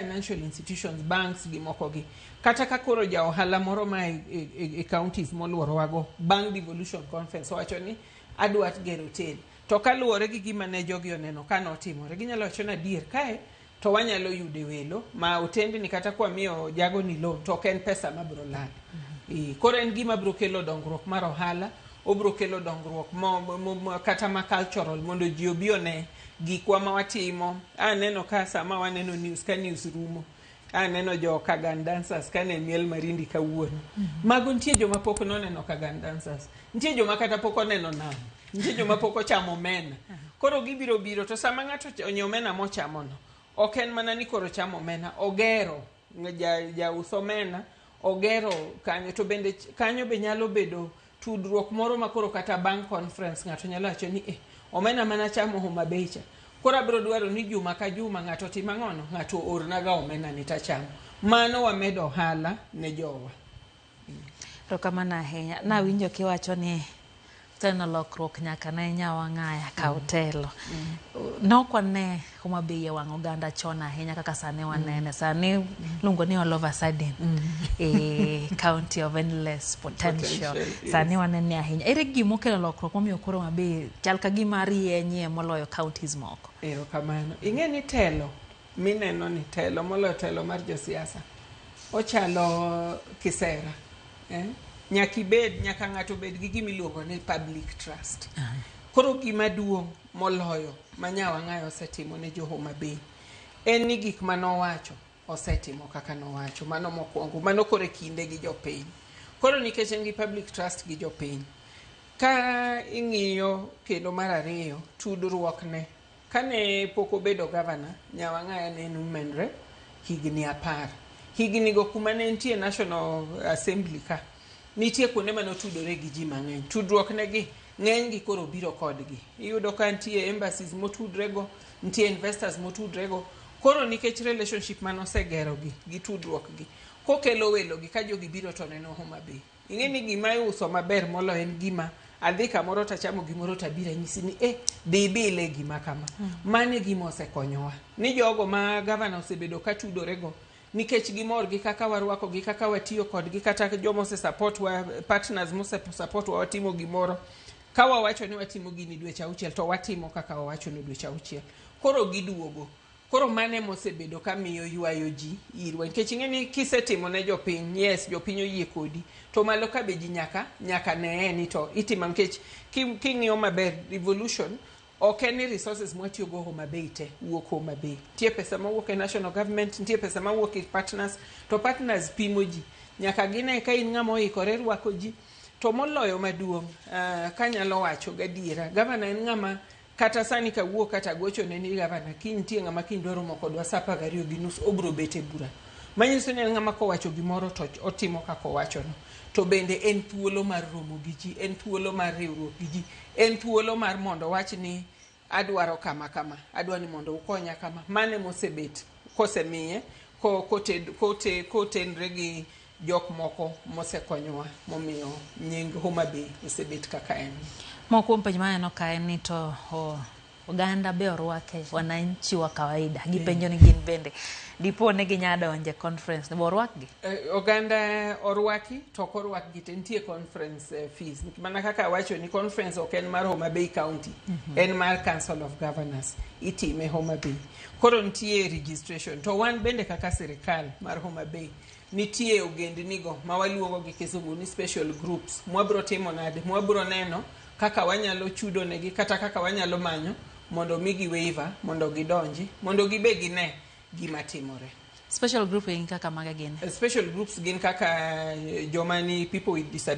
financial institutions banks gi moko gi kata ka koro ja ohala moro ma e, e, e, e counties molworowago bang' devolution conference owacho ni adwa gero hotel to kaluwore gi gima ne jogi oneno ka notimore ginyalo wacho ni adier kae to wanyalo yude welo ma otendni kata kwamiyo jago ni loan to ok en pesa mabiro lal mm-hmm. koro en gima biro kelo dongruok mar ohala obiro kelo dongruok mo, mo, mo, kata ma cultural mondo ji obi one gikwa ma watimo aneno ka sama waneno news ka news rumo aneno jo kagan dancers kane miel marindi kawuono mago nitie joma pok noneno kagan dancers nitie joma kata pok oneno nam nitie joma pok ochamo omena koro gibiro biro to sama ng'ato ocha- onyo omena mochamono ok en mana ni koro chamo omena ogero ja- jaus omena ogero kanyo to bende ch- kanyo be nyalo bedo tudruok moro ma koro kata bang' conference ng'ato nyalo wacho ni eh, omena mana chamo Homa Bay cha koro abiro dwaro ni juma ka juma ng'ato tim ang'ono ng'ato ornaga omena ni tachamo mano wamedo ohala ne jowa erokamano ahinya nawinjo kiwacho ni teno lokruok nyaka ne nyawang'aya ka mm. otelo mm. nokwane Homa Bay e wang' oganda chon ahinya kaka sani mm. wanene. Sani mm. luongo ni all of a sudden mm. e county of endless potential. Sani wanene ahinya. Ere gima okelo lokruok momiyo koro Homa Bay chal ka gima rienyie moloyo counties moko? Erokamano. Ing'e ni telo mineno ni telo moloyo telo mar josiasa ochalo kisera. Eh? Nyaka ibed, nyaka ng'ato obed gi gima iluongo ni public trust. Koro gima duong' moloyo ma Nyawang'ayo osetimo ne jo Homa Bay en ni gik ma nowacho osetimo kaka nowacho. Mano mokwongo, mano koro e kinde gi jopiny. Koro nikech en gi public trust gi jopiny, ka ing'iyo kendo mar ariyo, tudruokne. Kane pok obedo gavana, Nyawang'aya ne en women rep higni apar. Hignigo kuma ne entie National Assembly ka, Nitie kuonde mane otudore gi ji mang'eny. Tudruok ne gi ng'eny gi koro biro kodgi. Iyudo ka nitie embassies motudre go, nitie investors motudre go. Koro nikech relationship mane osegero gi, gi tudruok gi, kokelo welo gi ka jogi biro to neno Homa Bay. Ing'e ni gima iuso maber molo en gima adhi kamoro tachamo gimoro tabiro anyisi ni eh, dhi ibile gima kama. Mano e gima osekonyowa. Ni jogo ma gavana osebedo ka tudore go, nikech gimor gi kaka warwako gi kaka watiyo kodgi kata joma ose support wa partners mose support wa watimo gimoro ka wawacho ni watimo gini dweche auchiel to watimo kaka wawacho ni dweche auchiel koro giduogo koro mane mosebedo ka miyo ywayo ji irwa nikech ing'e ni kisetimo ne jopiny yes jopiny oyie kodi to malo ka be ji nyaka nyaka neye ni to itimo nikech ki- king'iyo maber revolution Ok en ni resources mwatiyo go Homa Bay te wuok Homa Bay. Nitie pesa mawuok e national government, nitie pesa mawuok e partners, to partners pimo ji. Nyaka gine ka in ng'ama oikore rwako ji. To moloyo maduong' uh, kanyalo wacho gadiera, gavana en ng'ama kata sani kawuo kata gocho ne ni gavana kiny nitie ng'ama kiny dwaro moko dwa saa apar gariyo gi nus obro bet e bura manyiso ni en ng'ama kowacho gimoro to otimo kaka owachono to bende en thuolo mar romo gi ji en thuolo mar riwruok gi ji En thuolo mar mondo wach ni adwaro kama kama, adwa ni mondo ukonya kama. Mane mosebet kosemiye ko- koted- kote- kotenre gi jok moko mosekonyowa momiyo nying Homa Bay osebet kaka en. Moko kuom penjo maneno ka en ni to o, Oganda be orwake, wananchi wa kawaida gipenjo ni gin bende dipo ni ginya donje conference be orwakgi? Eh, oganda orwaki to ok orwakgi te nitie conference eh, fees mana kaka awacho ni conference ok en mar Homa Bay County mm -hmm. en mar Council of Governors itime Homa Bay koro nitie registration to wan bende kaka sirikal mar Homa Bay nitie ogendnigo ma waluongo gi kizungu ni special groups mwabro timo nade mwabro neno kaka wanyalo chudo negi kata kaka wanyalo manyo mondo migi waiver mondo gidonji mondo gibe gine gima timore special group en kaka maga gin special groups gin kaka eh, joma ni people with disability